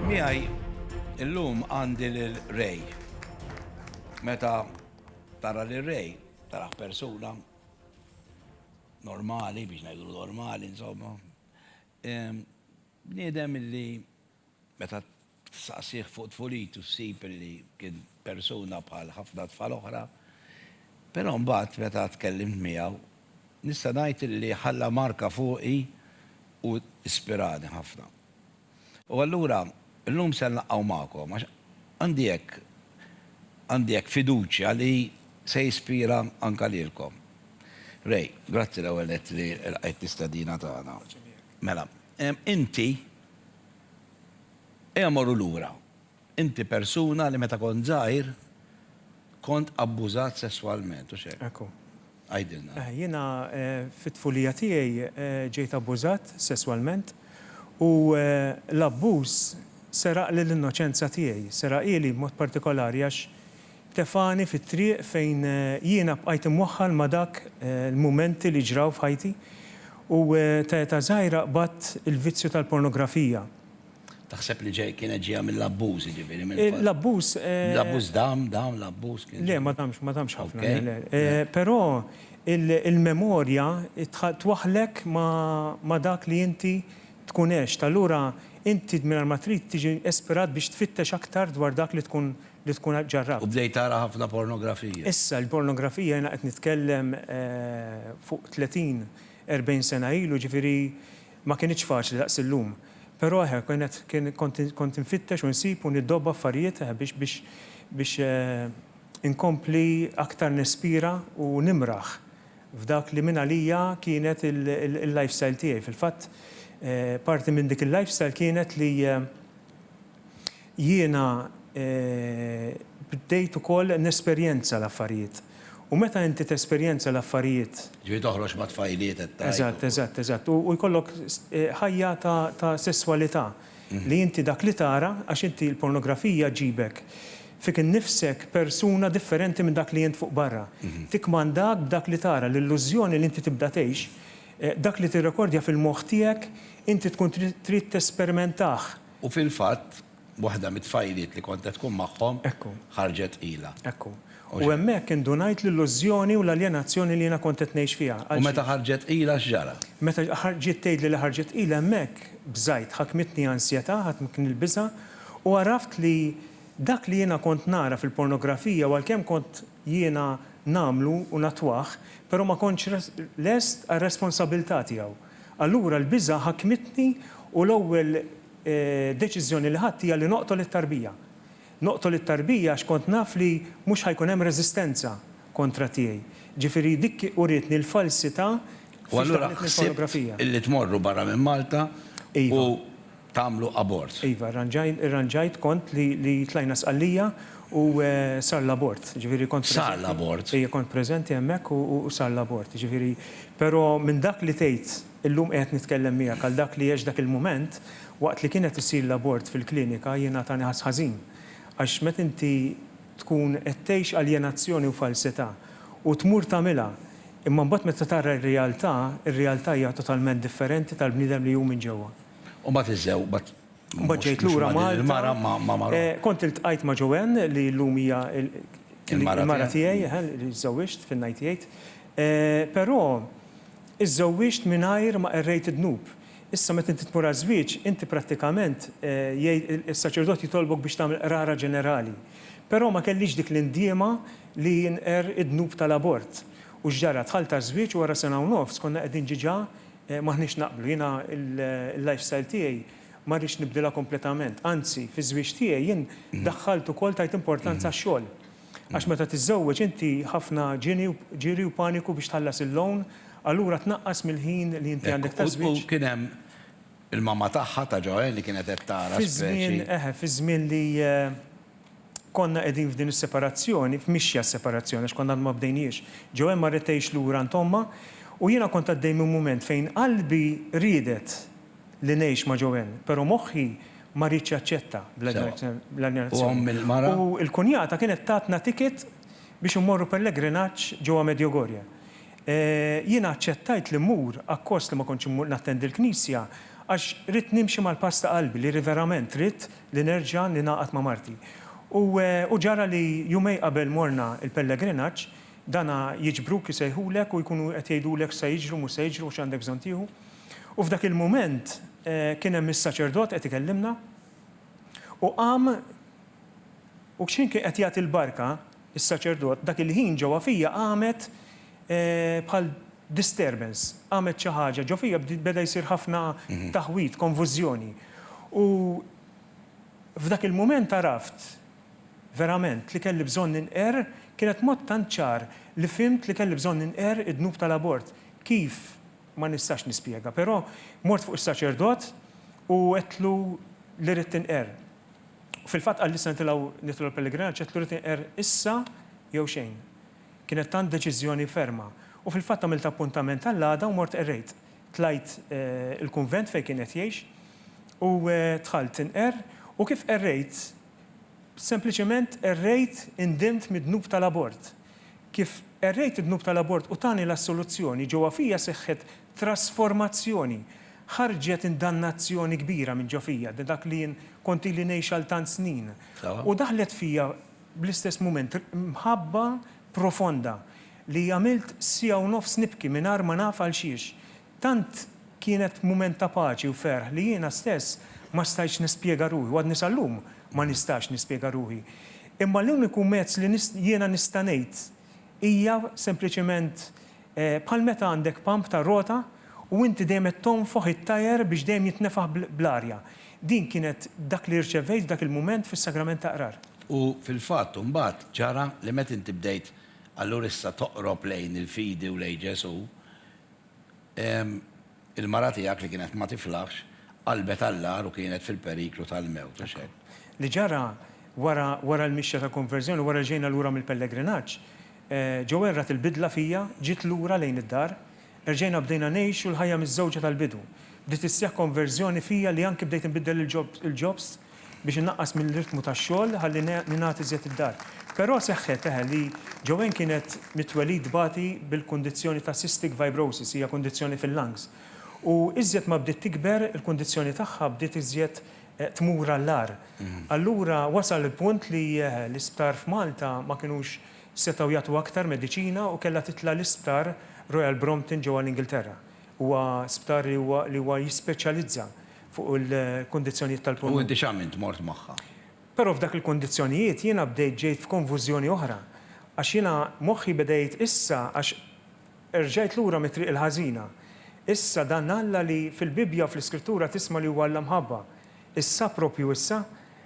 Miegħi illum għandi lil Ray. Meta tara lil Ray, tara persuna normali, biex ngħidu normali, insomma. Bniedem illi meta saqsih fuq tfulitu ssib illi kien persuna bħal ħafna tfal oħra, però mbagħad meta tkellimt miegħu, nista' ngħid illi ħalla marka fuqi u ispirani ħafna. U allura llum se nlaqgħu magħkom għax għandi hekk għandi hekk fiduċja li se jispira anke lilkom. Ray, grazzi l-ewwel nett li lqajt l-istedina tagħna. Mela, inti ejja morru lura. Inti persuna li meta kont żgħir kont abbużat sesswalment, hux hekk? Hekk hu. Għidilna. Jiena fit-tfulija tiegħi ġejt abbużat sesswalment u l-abbuż seraqli l-innoċenza tiegħi, seraqhieli b'mod partikolari għax tefagħni fit-triq fejn jiena bqajt imwaħħal ma' dak l-mumenti li ġraw f'ħajti u ta' età żgħira qbadt il-vizzju tal-pornografija. Taħseb li ġej, kienet ġejja mill-abbuż, jiġifieri mill-fatt. Eh, l-abbuż, eh. L-abbuż dam, dam, l-abbuż kien. Le, ma damx, ma damx ħafna. Okay. le, le. Eh, Però il- il-memorja tħa- twaħħlek ma'- ma' dak li inti tkun għext. Allura inti mingħajr ma trid tiġi ispirat biex tfittex aktar dwar dak li tkun li tkun U ġarrabt. bdejt tara ħafna pornografija. Issa, il-pornografija jiena qed nitkellem, eh, fuq 30, 40 sena ilu, jiġifieri, Ma kinitx faċli daqs illum. Però eħe kienet kien kont kont infittex u nsib u niddobb affarijiet eħe biex biex biex inkompli aktar nispira u nimraħ f'dak li mingħalija kienet il-lifestyle tiegħi. Fil-fatt parti minn dik il-lifestyle kienet li Jiena bdejt ukoll nesperjenza l-affarijiet. U meta inti tesperjenza l-affarijiet. Ġifieri toħroġ ma' tfajliet qed tgħid. Eżatt, eżatt, eżatt. U jkollok ħajja ta' sesswalità li inti dak li tara, għax inti l-pornografija ġġibek fik innifsek persuna differenti minn dak li int fuq barra. Tikkmandak b'dak li tara, l-illużjoni li inti tibda tgħix, dak li tirrekordja fil-moħħ tiegħek inti tkun trid tespermentah. U fil-fatt, waħda mit-tfajliet li kont qed tkun magħhom, ħarġet tqila. Ekku. U hemmhekk indunajt l-illużjoni u l-aljenazzjoni li jiena kont qed ngħix fiha. U meta ħarġet tqila x'ġara? Meta ġiet tgħidli li ħarġet tqila hemmhekk bżajt, ħakmitni ansjetà, ħakmitni l-biża', u għaraft li dak li jiena kont nara fil-pornografija u għalkemm kont jiena nagħmlu u nattwah, però ma kontx lest għar-responsabilità tiegħu. Allura l-biża' ħakmitni u l-ewwel deċiżjoni li ħadt hija li noqtol it-tarbija. Noqtol it-tarbija għax kont naf li mhux ħa jkun hemm reżistenza kontra tiegħi. Ġifieri dik urietni l-falsità fiex daħlet mill-pornografija. U allura ħsibt illi tmorru barra minn Malta u. Iva. tagħmlu abort. Iva, rranġajn, irranġajt kont li li tlajna Sqallija u sar l-abort. Ġifieri kont preżenti. Sar l-abort. Ejja, kont preżenti hemmhekk u u sar l-abort. Ġifieri, però minn dak li tgħid illum qiegħed nitkellem miegħek għal dak li għext dak il-mument, waqt li kien qed isir l-abort fil-klinika jiena tani ħass ħażin. Għax meta inti tkun qed tgħix aljenazzjoni u falsità u tmur tagħmilha, imma mbagħad meta tara r-realtà, ir-realtà hija totalment differenti tal-bniedem li hu minn ġewwa. U mbagħad iżżeww, mbagħad. U mbagħad ġejt lura Malta. Il-mara ma' marha. Kont iltqajt ma' Joanne li llum hija l-mara tiegħi, eħe, li żżewwiġt fin-98. Però żżewwiġt mingħajr ma qerrejt id-dnub. Issa meta inti tmur għaż-żwieġ, inti prattikament is-saċerdot jitolbok biex tagħmel qrara ġenerali. Però ma kellix dik l-indiema li nqerr id-dnub tal-abort. U x'ġara? Dħalt għaż-żwieġ u wara sena u nofs konna qegħdin ġiġa M'aħniex naqblu. Jiena l-lifestyle tiegħi ma rridx nibdilha kompletament. Anzi, fiż-żwieġ tiegħi jien daħħalt ukoll tajt importanza għax-xogħol. Għax meta tiżżewweġ inti ħafna ġiri u paniku biex tħallas il-loan, allura tnaqqas mill-ħin li inti għandek taż-żwieġ. U kien hemm il-mamma tagħha, ta' Joanne, li kienet qed tara speċi. Fiż-żmien, eħe, fiż-żmien li. Konna qegħdin f'din is-separazzjoni, f'mixja s-separazzjoni għax konna għadna ma bdejnhiex. Joanne marret tgħix lura għand ommha u jiena kont għaddej minn mument fejn qalbi riedet li ngħix ma' Joanne, però moħħi ma riedx jaċċetta bl-aljenazzjoni. U l-kunjata kienet tatna ticket biex immorru pellegrinaġġ ġewwa Medjugorje. Jiena aċċettajt li mmur akkost li ma kontx nattendi l-knisja għax ridt nimxi mal-pass ta' qalbi li verament ridt li nerġa' ningħaqad ma' marti. U u ġara li jumej qabel morna l-pellegrinaġġ, dana jiġbruk, isejħulek u jkunu qed jgħidulek x'se jiġri u mhux se jiġri u x'għandek bżonn tieħu. U f'dak il-mument kien hemm is-saċerdot qed ikellimna u qam u x'ħin kien qed jagħti l-barka, Is-saċerdot, Dak il-ħin ġewwa fija qamet bħal disturbance, qamet xi ħaġa ġo fija, beda jsir ħafna taħwid, konfużjoni. U f'dak il-mument għaraft verament li kelli bżonn ninqer, kienet mod tant ċar li fhimt li kelli bżonn ninqer id-dnub tal-abort. Kif, ma nistax nispjega, però mort fuq is-saċerdot u għedtlu li rrid tinqer. Fil-fatt qal li se nitilgħu nidħlu l-pellegrinaġġ għedtlu rrid inqerr issa jew xejn. Kienet tant deċiżjoni ferma. U fil-fatt għamilt appuntament għall-għada u mort qerrejt. Tlajt il-kunvent fejn kien qed jgħix u dħalt inqerr u kif qerrejt sempliċement qerrejt indimt mid-dnub tal-abort. Kif qerrejt id-dnub tal-abort u tani l-assoluzzjoni, ġewwa fija seħħet Trasformazzjoni. Ħarġet indannazzjoni kbira minn ġo fija, da dak li jien kont ili ngħix għal tant snin. U daħlet fija bl-istess mument mħabba profonda li għamilt siegħa u nofs nibki mingħajr ma naf għalxiex. Tant kienet mument ta' paċi u ferħ li jiena stess ma stajtx nispjega ruħi u għadni sal-lum ma nistax nispjega ruħi. Imma l-uniku mezz li jiena nista' ngħid hija sempliċement Bħal meta għandek pump tar-rota u inti dejjem qed tonfoħ it-tajer biex dejjem jitnefaħ bl-arja. Din kienet dak li rċevejt f'dak il-mument fis-Sagrament ta' Qrar. U fil-fatt imbagħad ġara li meta inti bdejt allura issa toqrob lejn il-fidi u lejn Ġesù, Il-mara tiegħek li kienet ma tiflaħx qalbet għall-agħar u kienet fil-periklu tal-mewt, u x'hekk. Li ġara, Wara, wara l-mixja ta' konverżjoni, wara li ġejna lura mill-pellegrinaġġ, Joelle rat il-bidla fija, ġiet lura lejn id-dar. Erġajna bdejna ngħixu l-ħajja miżżewġa tal-bidu. Bdiet isseħħ konverżjoni fija li anki bdejt inbiddel il-ġobst biex innaqqas mill-ritmu tax-xogħol ħalli ningħad iżjed id-dar. Però seħħet, eħe, li Joanne kienet mit-twelid tbati bil-kundizzjoni ta' cystic fibrosis, hija kundizzjoni fil-lungs. U iżjed ma bdiet tikber, il-kundizzjoni tagħha bdiet iżjed tmur għall-agħar. Allura wasal il-punt li, eħe, l-isptar f'Malta ma kinux setgħu jagħtuha aktar mediċina u kellha titla' l-isptar Royal Brompton ġewwa l-Ingilterra. Huwa sptar li huwa li huwa jispeċjalizza fuq il-kundizzjonijiet tal-pulmun. U inti x'għamilt, mort magħha? Però f'dak il-kundizzjonijiet jiena bdejt ġejt f'konfużjoni oħra għax jiena moħħi beda jgħid issa għax erġajt lura mit-triq il-ħażina. Issa dan Alla li fil-Bibbja u fl-Iskrittura tisma' li huwa Alla mħabba, issa proprju issa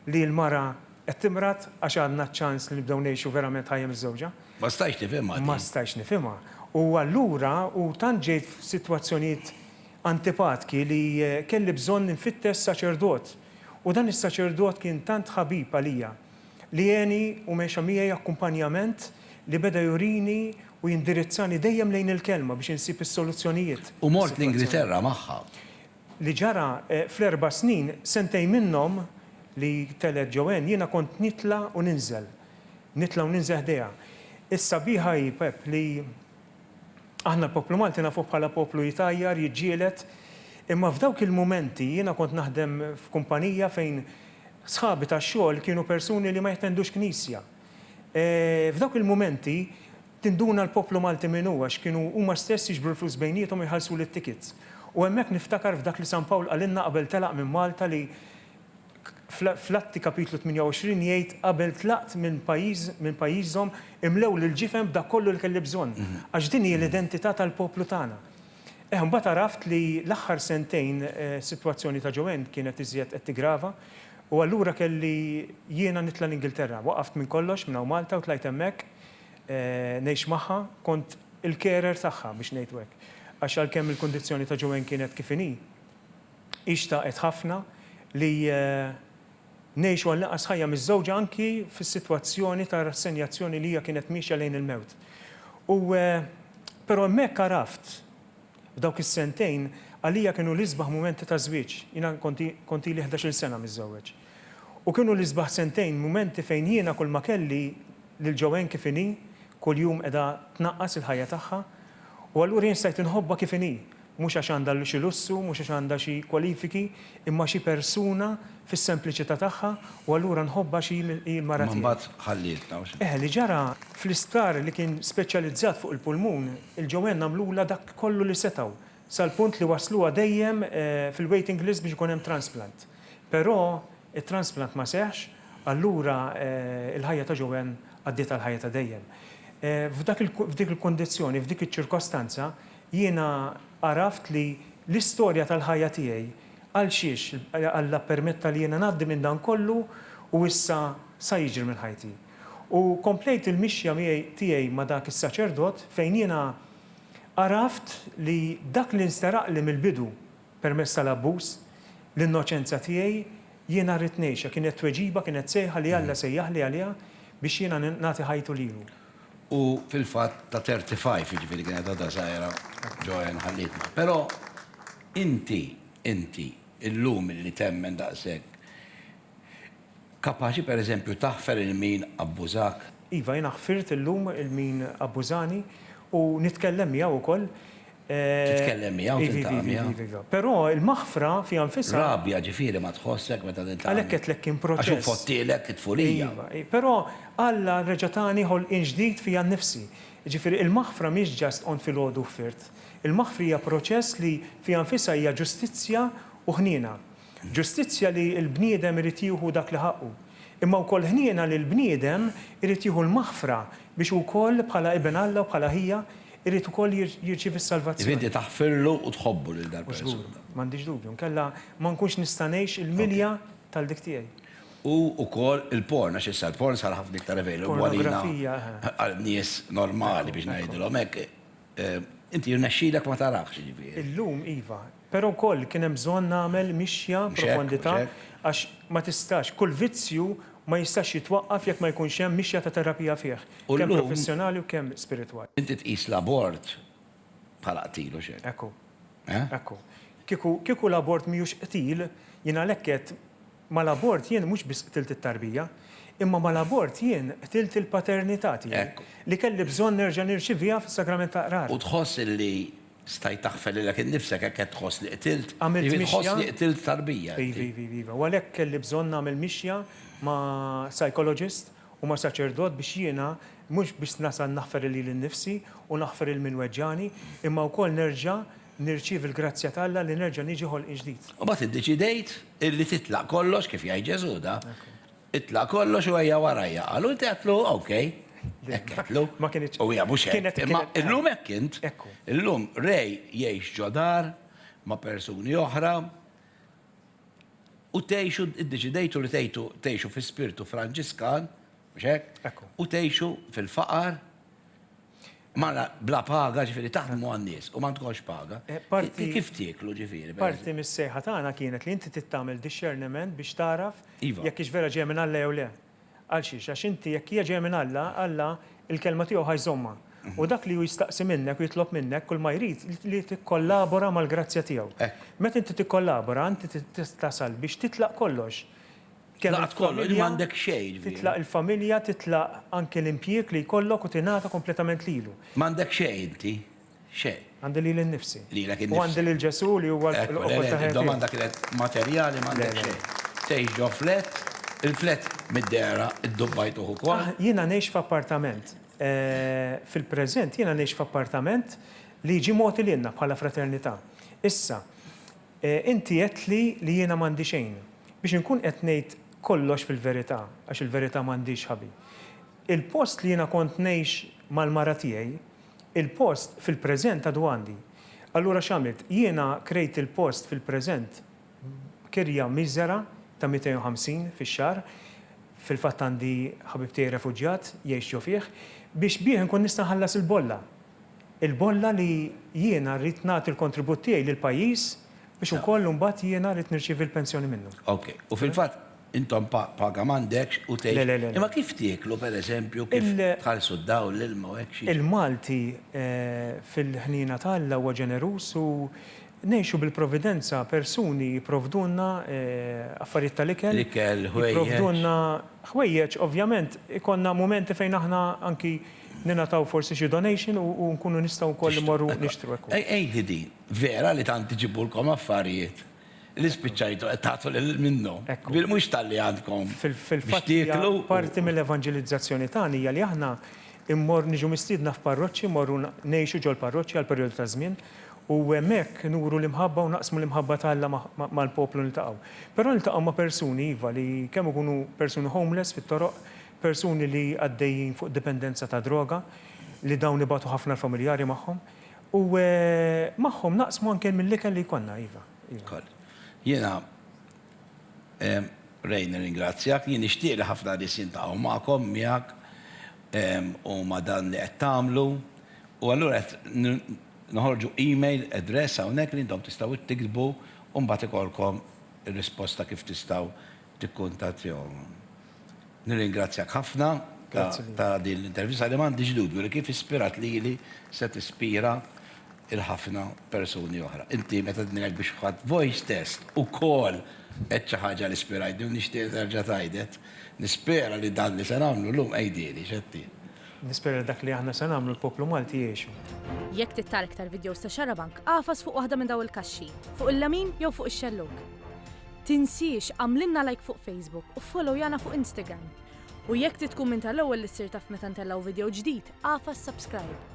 li l-mara qed timrad għax għandna ċ-ċans li nibdew ngħixu verament ħajja miżżewġa. Ma stajtx nifhimha din. Ma stajtx nifhimha. U allura u tant ġejt f'sitwazzjonijiet antipatki li kelli bżonn infittex saċerdot. U dan is-saċerdot kien tant ħabib għalija li għeni u mexa miegħi akkumpanjament li beda jurini u jindirizzani dejjem lejn il-Kelma biex insib is-soluzzjonijiet. U mort l-Ingilterra magħha. li ġara fl-erba' snin, sentejn minnhom li telgħet Joanne, jiena kont nitla' u ninżel, nitla' u ninżel ħdejha. Is-sabiħa hi, Pep, li aħna l-poplu Malti nafuh bħala poplu jtajjar, jiġġieled, imma f'dawk il-mumenti jiena kont naħdem f'kumpanija fejn sħabi tax-xogħol kienu persuni li ma jattendux knisja. F'dawk il-mumenti Tinduna l-poplu Malti min hu għax kienu huma stess jiġbru l-flus bejniethom u jħallsuli t-tickets. U hemmhekk niftakar f'dak li San Pawl qalilna qabel telaq minn Malta li fl-Atti Kapitlu 28 jgħid qabel tlaqt minn pajjiż minn pajjiżhom imlew l-ġifen b'dak kollu li kelli bżonn għax din hi l-identità tal-poplu tagħna. Eħ imbagħad għaraft li l-aħħar sentejn is-sitwazzjoni ta' Joanne kienet iżjed qed tiggrava u allura kelli jiena nitla' l-Ingilterra. Waqaft minn kollox minn hawn Malta u tlajt hemmhekk. ngħix magħha, kont il-carer tagħha biex ngħidu hekk. Għax għalkemm il-kundizzjoni ta' Joanne kienet kif inhi, hi xtaqet ħafna li ngħixu għal inqas ħajja miżżewġa anki fis-sitwazzjoni ta' rassenjazzjoni li hija kienet miexja lejn il-mewt. U però hemmhekk għaraft, f'dawk is-sentejn, għalija kienu l-isbaħ mumenti taż-żwieġ. Jiena kont ili ħdax-il sena miżżewweġ. U kienu l-isbaħ sentejn mumenti fejn jiena kulma kelli lil Joanne kif inhi, kuljum qiegħda tnaqqas il-ħajja tagħha, u allura jien stajt inħobbha kif inhi, mhux għax għandha xi lussu, mhux għax għandha xi kwalifiki, imma xi persuna fis-sempliċità tagħha u allura nħobbha għax hi l-mara tiegħi. Imma mbagħad ħallietna, u xi? Eh, li ġara, fl-isptar li kien speċjalizzat fuq il-pulmun, il-Joanne għamlulha dak kollu li setgħu, sal-punt li wassluha dejjem fil-waiting list biex ikun hemm transplant. Però t-transplant ma seħħx, allura l-ħajja ta' Joanne għaddiet għal ħajja ta' dejjem. F'dak il, f'dik il-kundizzjoni, f'dik iċ-ċirkostanza, jiena għaraft li l-istorja tal-ħajja tiegħi, għal xiex Alla ppermetta li jiena ngħaddi minn dan kollu u issa sa jiġri minn ħajti. U komplejt il-mixja miegħi, tiegħi ma' dak is-saċerdot fejn jiena Għaraft li dak li nsteraqli mill-bidu permezz tal-abbuż, l-innoċenza tiegħi, jiena rrid ngħixha, kienet tweġiba, kienet sejħa li Alla sejjaħli għaliha biex jiena nagħti ħajtu lilu. U fil-fatt ta' 35, jiġifieri kienet għadha żgħira, Joanne ħallietna. Però inti, inti, illum li temmen daqshekk, Kapaċi per eżempju taħfer il min abbużak? Iva, jiena ħfirt illum il min abbużani u nitkellem miegħu ukoll. Titkellem miegħu, tiltaqa' miegħu. Iva, iva, iva, iva. Però il-maħfra fiha nfisha. Rabja ġifieri ma tħossek meta tiltaqa' miegħu. Għalhekk għedtlek kien proċess. Għax hu fottielek it-tfulija. Iva, iva. Però Alla reġa' tani ħolqien ġdid fija nnifsi. Jiġifieri il-maħfra mhix just qommt filgħodu u ħfirt. Il-maħfri hija proċess li fiha nfisha hija ġustizzja u ħniena. Ġustizzja li l-bniedem irid jieħu dak li ħaqqu, imma wkoll ħniena li l-bniedem irid jieħu l-maħfra biex hu wkoll bħala iben Alla u bħala ħija jrid ukoll jirċievi s-salvazzjoni. Jrid inti taħfirlu u tħobbu lil dal-persuna. Żgur, m'għandix dubju, inkella ma nkunx nista' ngħix il-milja tal-dik tiegħi. U wkoll il-porn, għax issa l-porn sar ħafna iktar available għalina, għal nies normali biex ngħidilhom hekk. Inti jirnexxilek ma tarahx jiġifieri. Illum iva, Però wkoll kien hemm bżonn nagħmel mixja profondità għax ma tistax, kull vizzju ma jistax jitwaqqaf jekk ma jkunx hemm mixja ta' terapija fih, kemm professjonali u kemm spiritwali. Inti tqis l-abort bħala qtil hux hekk? Hekk hu. Eh? Hekk hu. Kieku, kieku l-abort mhijiex qtil, jien għalhekk għedt, mal-abort jien mhux biss qtilt it-tarbija, imma mal-abort jien qtilt il-paternità tiegħi, li kelli bżonn nerġa' nirċiviha fis-Sagrament tal-Qrar. U tħoss illi Stajt taħfer lilek innifsek hekk qed tħoss li qtilt? Għamilt Ivi tħoss mixja. li qtilt tarbija inti. Ivi, ivi, iva. U għalhekk kelli bżonn nagħmel mixja ma' psychologist u ma' saċerdot biex jiena mhux biss nasal naħfer lil lili nnifsi u naħfer lil min weġġagħni, imma wkoll nerġa' nirċievi l-grazzja ta' Alla li nerġa' niġi ħolqien ġdid. U mbagħad iddeċidejt li titlaq kollox, kif jgħid Ġesù da, Itla' kollox u ejja warajja, qal. U inti għedtlu, OK. Hekk għedtlu. Ma kinitx. U hija mhux hekk. Imma illum hekk int. Illum Ray jgħix ġo dar ma' persuni oħra u tgħixu, iddeċidejtu li tgħidu tgħixu fi spirtu Franġiskan, mhux hekk? U tgħixu fil-faqar. Mara bla paga ġifieri taħdmu għan-nies u m'għandkomx paga. Kif tieklu ġifieri? Parti mis-sejħa tagħna kienet li inti trid tagħmel dixxerniment biex tagħraf jekk hix vera ġejja minn Alla jew le. Għal xiex? Għax inti jekk hija ġejja minn Alla, Alla l-kelma tiegħu ħa jżommha. U dak li hu jistaqsi minnek u jitlob minnek kulma jrid li tikkollabora mal-grazzja tiegħu. Meta inti tikkollabora inti tasal biex titlaq kollox. Tlaqat kollox, ġifieri m'għandek xejn, ġifieri. Titlaq il-familja, titlaq anke l-impjieg li jkollok u tingħata kompletament lilu. M'għandek xejn inti, xejn. Għandi lili nnifsi. Lilek innifsek. U għandi lil Ġesù li huwa l-qofol ta' ħajja tiegħi. Id-domanda kienet materjali, m'għandek xejn. Tgħix ġo flat, il-flat mid-dehra ddubbajtuh ukoll. Jiena ngħix f'appartament. Fil-preżent jiena ngħix f'appartament li jiġi mogħti lilna bħala fraternità. Issa, Inti għedtli li jiena m'għandi xejn. Biex inkun qed ngħid kollox fil-verità, għax il-verità m'għandhiex ħabi. Il-post li jiena kont ngħix mal-mara tiegħi, il-post fil-preżent għadu għandi. Allura x'għamilt? Jiena krejt il-post fil-preżent b'kirja miżera ta' 250 fix-xahar, fil-fatt għandi ħabib tiegħi refuġjat jgħix ġo fih, biex bih inkun nista' nħallas il-bolla. il-bolla li jiena rrid nagħti l-kontribut tiegħi lill-pajjiż biex ukoll imbagħad jiena rrid nirċievi l-pensjoni minnu. Ok. U fil-fatt intom pa paga m'għandekx u tgħix. Le, le, le. Imma kif tieklu, pereżempju, kif tħallsu d-dawl, l-ilma u hekk xi. Il-Malti fil-ħniena ta' Alla huwa ġeneruż u ngħixu bil-providenza, persuni jipprovdulna affarijiet tal-ikel. L-ikel, ħwejjeġ. Jipprovdulna ħwejjeġ, ovvjament ikollna mumenti fejn aħna anki. Ningħataw forsi xi donation u nkunu nistgħu wkoll immorru nixtru hekk hu. Għidi di, vera li tant iġibulkom affarijiet li spiċċajtu qed tagħtu lil minnu, mhux talli għandkom biex tieklu u. Parti mill-evanġelizzazzjoni tagħna hija li aħna mmorru niġu mistiedna f'parroċċi, mmorru ngħixu ġol-parroċċi għal perjodu ta' żmien u hemmhekk nuru l-imħabba u naqsmu l-imħabba ta' Alla mal-poplu niltaqgħu. Però niltaqgħu ma' persuni iva li kemm ikunu persuni homeless fit-toroq, persuni li għaddejjin fuq dipendenza ta' droga, li dawn ibatu ħafna l-familjari magħhom, u magħhom naqsmu anke mill-ikel li jkollna, iva, iva. Jiena, Ray, nirringrazzjak, jien nixtieq li ħafna nies jiltaqgħu magħkom, miegħek, u ma' dan li qed tagħmlu, u allura qed noħorġu email address hawnhekk li intom tistgħu tiktbu u mbagħad ikollkom ir-risposta kif tistgħu tikkuntattjawhom. Nirringrazzjak ħafna ta' ta' din l-intervista li m'għandix dubju li kif ispirat lili se tispira il ħafna persuni oħra. Inti meta tnejnek biex ħadt voice test ukoll għedt xi ħaġa li spirajtni u nixtieq nerġa' tgħidhet. Nispera li dan li se nagħmlu llum għidili, x'għedti? Nispera li dak li aħna se nagħmlu l-poplu Malti jgħixu. Jekk trid tara iktar vidjows ta' Xarabank, agħfas fuq waħda minn dawn il-kaxxi, fuq il-lemin jew fuq ix-xellug. Tinsiex għamlilna like fuq Facebook u ffollowyana fuq Instagram. U jekk trid tkun minn tal-ewwel li ssir taf meta ntellgħu vidjow ġdid, agħfas subscribe.